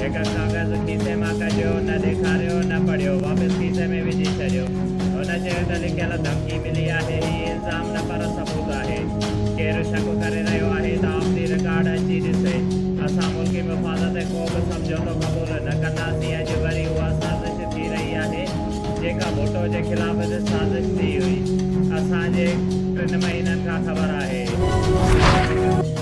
هڪ ڪاغذ کيسي مان ڪڍيو، نه ڏيکاريو، نه پڙهيو، واپس کيسي ۾ وجهي ڇڏيو. هن چيو ته لکيل ڌمڪي ملي آهي، هي الزام نه پر ثبوت آهي. ڪير شڪ ڪري رهيو آهي ته آف دي رڪارڊ اچي ڏسي. اسان ملڪي مفاد تي ڪو به سمجهوتو قبول نه ڪنداسين، اڄ وري اها سازش ٿي رهي آهي، جيڪا ڀٽو جي خلاف به سازش ٿي هئي. اسان جي ٽن مهينن کان خبر آهي.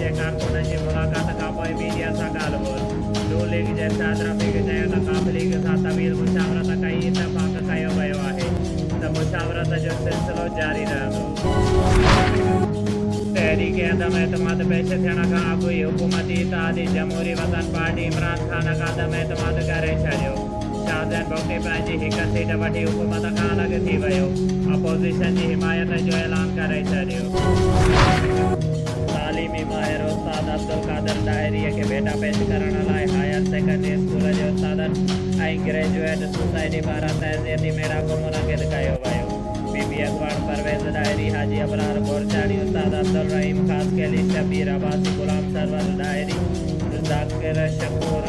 جي ڪارڪنن جي ملاقات کانپوء ميڊيا سان ڳالهه ٻولهه ن ليگ جي ارشاد رفيق چيو ته ق ليگ سان طويل مشاورت ڪئي اتفاق ڪيو ويو آهي ته مشاورت جو سلسلو جاري رهندو. تحريڪ عدم اعتماد پيش ٿيڻ کان اڳ ئي حڪومتي اتحادي جمهوري وطن پارٽي عمران خان کان عدم اعتماد ڪري ڇڏيو، شاهزين بگٽي پنهنجي هڪ سيٽ وٺي حڪومت کان الڳ ٿي ويو، اپوزيشن جي حمايت جو اعلان ڪري ڇڏيو. تعليمي ماهر استاد عبدالقادر ڏاهري کي ڀيٽا پيش ڪرڻ لاء هائير سيڪنڊري اسڪول جي استادن ۽ گريجوئيٽ سوسائٽي پاران تعزيتي ميڙاڪو منعقد ڪيو ويو. بي بي اڳواڻ پرويز ڏاهري، حاجي ابرار گورچاڻي، استاد عبدالرحيم خاصخيلي، شبير عباسي، غلام سرور ڏاهري، ذاڪر شڪور،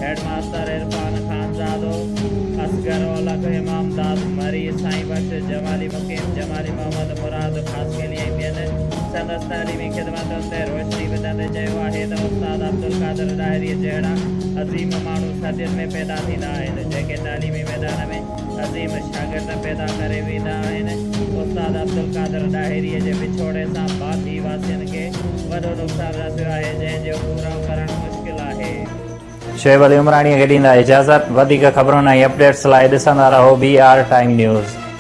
هيڊ ماستر عرفان خانزادو، اصغر اولک، امامداد مري، سائين بخش جمالي، مقيم جمالي، محمد مراد، آسپيلي ۽ ٻين سندس تعليمي خدمتن تي روشني وجهندي چيو آهي ته استاد عبدالقادر ڏاهري جهڙا عظيم ماڻهو صدين ۾ پيدا ٿيندا آهن جيڪي تعليمي ميدان ۾ عظيم شاگرد پيدا ڪري ويندا آهن استاد عبدالقادر ڏاهري جي وڇوڙي سان باندي واسين کي وڏو نقصان رسيو آهي جنهن جو پورائو ڪرڻ مشڪل آهي. شعيب علي عمراڻيء کي ڏيندا اجازت. وڌيڪ خبرن ۽ اپڊيٽس لاء ڏسندا رهو بي آر ٽائيم نيوز.